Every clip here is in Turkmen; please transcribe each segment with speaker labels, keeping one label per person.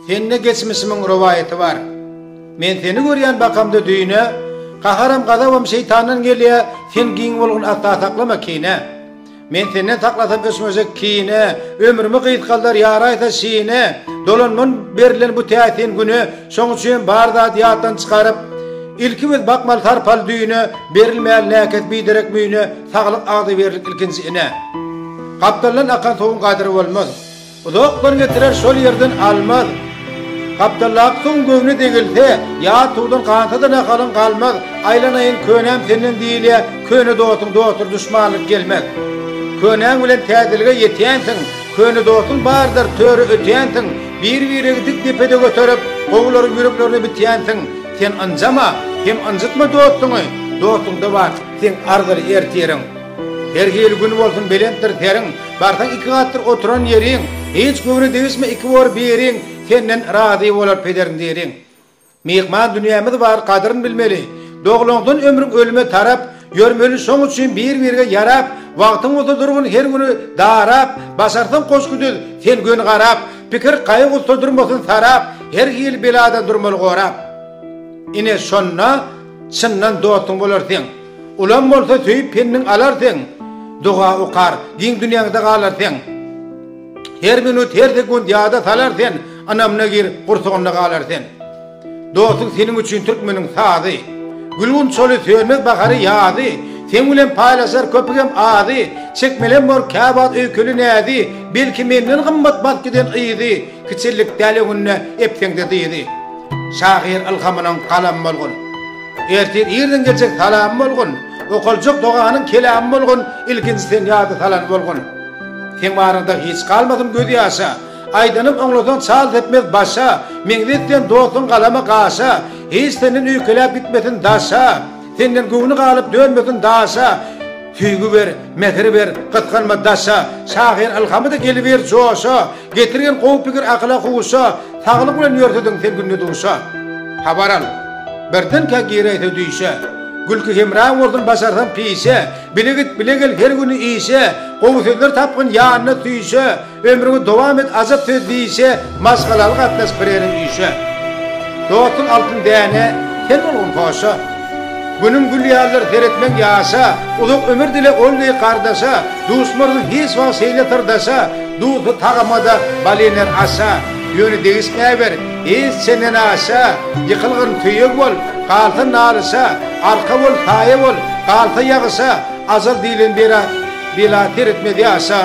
Speaker 1: Sende geçmişimiň rowaýaty bar. Men seni görýän bakamda düýne, Gaharam gazabam şeýtandan gelýär, Sen giň bolgun asla saklama kine. Men senden saklasam öçmejek kine, Ömrümi gysgaldar ýaraýsa şine, Dolanman berlen bu täsin güne, Şoň üçinem bar zady ýatdan çykaryp, Ilki biz bakmaly sarpaly düýne, Berilmäli näkes biderek müýne, Saglyk agzybirlik ilkinji ine. Gapdaldan akan suwuň gadyry bolmaz. Uzakdan getirer şol ýerden almaz. Gapdallaky suwuň göwni degilse, ýa suwdan gansa-da nahalyň galmaz, Aýlanaýyn könäm senden diýilýär, Köne dostuň dostdur duşmanlyk gelmez. Könäň bilen täzelige ýetýänsiň, Köne dostuň bardyr töre ötýänsiň, Bir-biregi dik depede göterip, Gowularyň ýüreklerine bitýänsiň. Sen ynjama hem ynjytma dostuňy, Dostuňda bar seň arzyly ertiriň. Her hili gün bolsun belentdir seriň, Barsaň iki gatdyr oturan ýeriň, Hiç göwne degişme iki bor biriň, Senden razy bolar pederin diriň. Myhman dünýämiz bar gadyryn bilmeli, Doglaňdan ömrüň ölüme tarap, Ýörmeli şoň üçin bir-birge ýarap, Wagtyň bolsa durgun her güni darap, Başarsaň goşgy düz sen göni garap, Pikir gaýy-gussa durmasyn sarap, Her hili beladan durmaly gorap. Ine şonda çyndan dostuň bolar seň, Ulam bolsa söýüp penniň alar sen, Doga okar, giň dünýäňde galar sen. Her minut, her sekunt ýada salar sen, Ynamyna gir, gursagynda galar sen. Dostum seniň üçin türkmeniň sazy, Gülgün çoly, sönmez bahary, ýazy, Seň bilen paýlaşar köpügem azy, Çekmelem bor kä wagt öýkeli näzi, Belki menden gymmat bat giden yzy, Kiçellik däl öňünde epseňde dyzy. Şahyr ylhamynyň galamy bolgun. Ertir irden geljek salam bolgun, Okaljak doganyň kelamy bolgun, Ilkinji sen ýada salan bolgun. Seň baryňda hiç galmasyn göz ýaşa, Aýdanym oňlasaň çal depmez başa, Meňzeş sen dostuň galama gaşa, Hiç senden öýkeläp gitmesin daşa, Senden göwni galyp dönmesin daşa. Söýgi ber, mähir ber, gysganma daşa, Şahyr ylhamy-da geliber joşa, Getirgin gowy pikir akyla huşa, Saglyk bilen ýörsediň sen günde duşa. Habar al, birdenkä giräýse düýşe, Gülki hemra bolsun başarsaň pişe, Bile git, bile gel her güni işe, Gowy sözler tapgyn ýanyna süýşe, Ömrüňi dowam et ajap söz diýişe Maşgalaly gatnaş bireriň işe Dostuň altyn däne sen bolgun hoşa Günüň gül ýalydyr seretmeň ýaşa Uzak ömür dile ol deý gardaşa Duşmarsyň hiç wagt şeýle syrdaşa Duzly tagamada bal iner aşa Ýöne degişmäwer hiç çenden aşa Ýykylgyn söýeg bol galsa nalyşa Arka bol saýa bol galsa ýagyşa Ajal diýlen bera Bela seretmez ýaşa,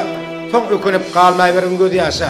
Speaker 1: Soň ökünip galmaýbergin gözýaşa.